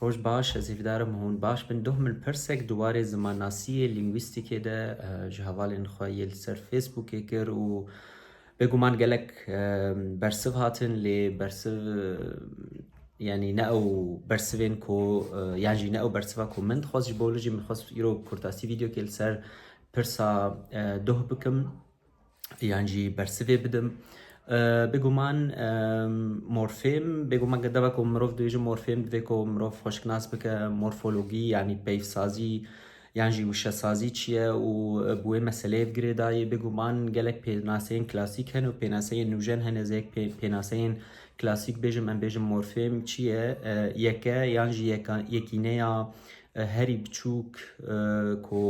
Roj baş, ez hîvdar im hûn baş bin. Doh min pirsek di warê zimannasiyê, lingwîstîkê de ji hevalên xwe yê li ser Facebookê kir û bêguman gelek bersiv hatin lê bersiv yanî ne ew bersivên ku yan jî ne ew bersiva ku min dixwest ji bo li jî min dixwest îro kurtasî vîdyokê li ser pirsa doh bikim. yan jî bersivê bidim. Bêguman morfêm, bêguman ke deva ku mirov dibêje morfêm divê ku mirov xweşiknas bike morfologî yanî peyvsazî yan jî wişesazî çi ye û bi wê meseleyê bi girê dayê. Bêguman gelek pênaseyên klasîk hene û pênaseyên nûjen hene. Ez ê yek pênaseyên klasîk bêjim, em bêjin morfêm çi ye? Yeke yan jî yekîneya herî biçûk ku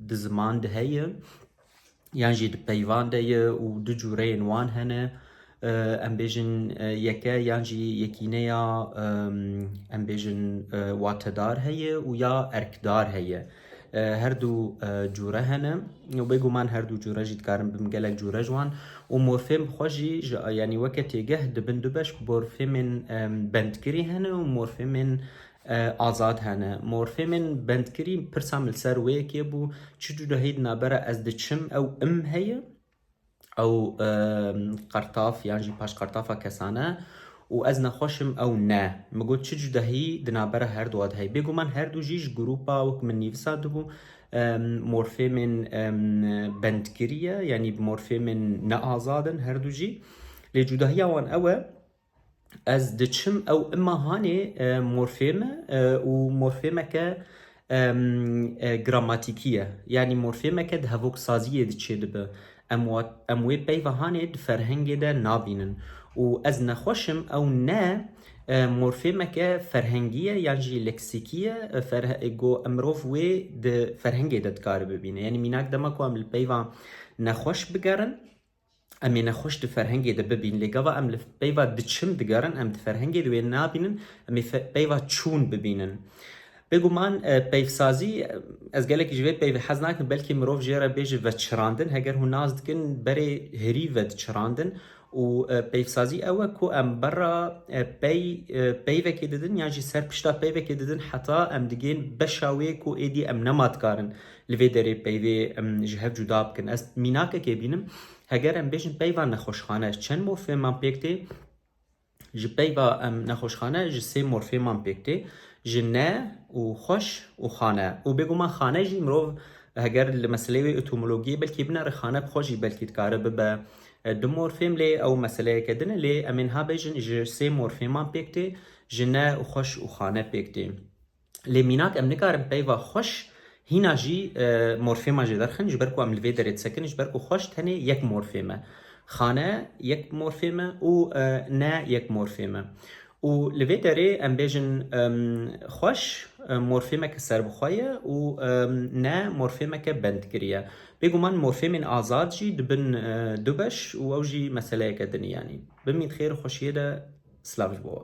di ziman de heye. yan jî di peyvan de ye û du cûreyên wan hene. Em bêjin yeke yan jî yekîneya em bêjin watedar heye û ya erkdar heye. Her du cûre hene û bêguman her du cûre jî dikarin bin gelek cûre ji wan û morfêm xwe jî ji yanî weke têgeh dibin du beş morfêmên bendkirî hene û morfêmên Azad hene. Morfêmên bendkirî pirsa min li ser wê yekê bû, çi cudahî di navbera ez diçim ew im heye, ew qertaf yan jî paşqertafa kesan e û ez nexweş im ew ne. Min got çi cudahî di navbera her du a de heye. Bêguman her du jî ji grûpa wek min nivisa dibû morfêmên bendkirî ye, yanî morfêmên neazad in her du jî. Lê cudahiya wan ew e, Ez diçim ew imma hanê morfêm e û morfêmeke gramatikî ye. Yanî morfêmeke di hevoksaziyê de çêdibe. Em em wê peyva hanê di ferhengê de nabînin. Û ez nexweş im ew ne morfêmeke ferhengî ye yan jî leksîkî ye ku mirov wê di ferhengê de dikare bibîne. Yanî mînak dema ku em li peyva nexweş bigerin, Em ê nexweş di ferhengê de bibîn lê gava em li peyva diçin digerin em di ferhengê de wê nabînin em ê peyva çûn bibînin. Bêguman peyvsazî ez gelekî ji vê peyvê hez nakim belkî mirov jê re bêje veçirandin heger hûn nas dikin berê hirî vediçirandin û peyvsazî ew e ku em berra pey peyvekê didin yan jî ser pişta peyvekê didin heta em digên beşa wê ku êdî em nema dikarin Li vê derê peyvê em ji hev cuda bikin. Ez mînakekê bînim, heger em bêjin peyva nexweşxane ji çend morfêman pêk tê, ji peyva em nexweşxane ji sê morfêman pêk tê, ji ne û xweş û xane. Û bêguman xane jî mirov heger li meseleyê wê etimologiyê belkî binere xane bi xwe jî belkî dikare bibe du morfêm lê ew meseleyeke din e. Lê em ê niha bêjin ji sê morfêman pêk tê, ji ne û xweş û xane pêk tê. Lê mînak em nikarin peyva xweş hîna jî morfêman jê derxin ji ber ku em li vê derê disekin ji ber ku xweş tenê yek morfêm e. Xane yek morfêm e û ne yek morfêm e. Û li vê derê em bêjin xweş morfêmeke serbixwe ye û ne morfêmeke bendkirî ye. Bêguman morfêmên azad jî dibin du beş û ew jî meseleyeke din e yanî. Bimîn xêr û xweşiyê de silav ji bo we.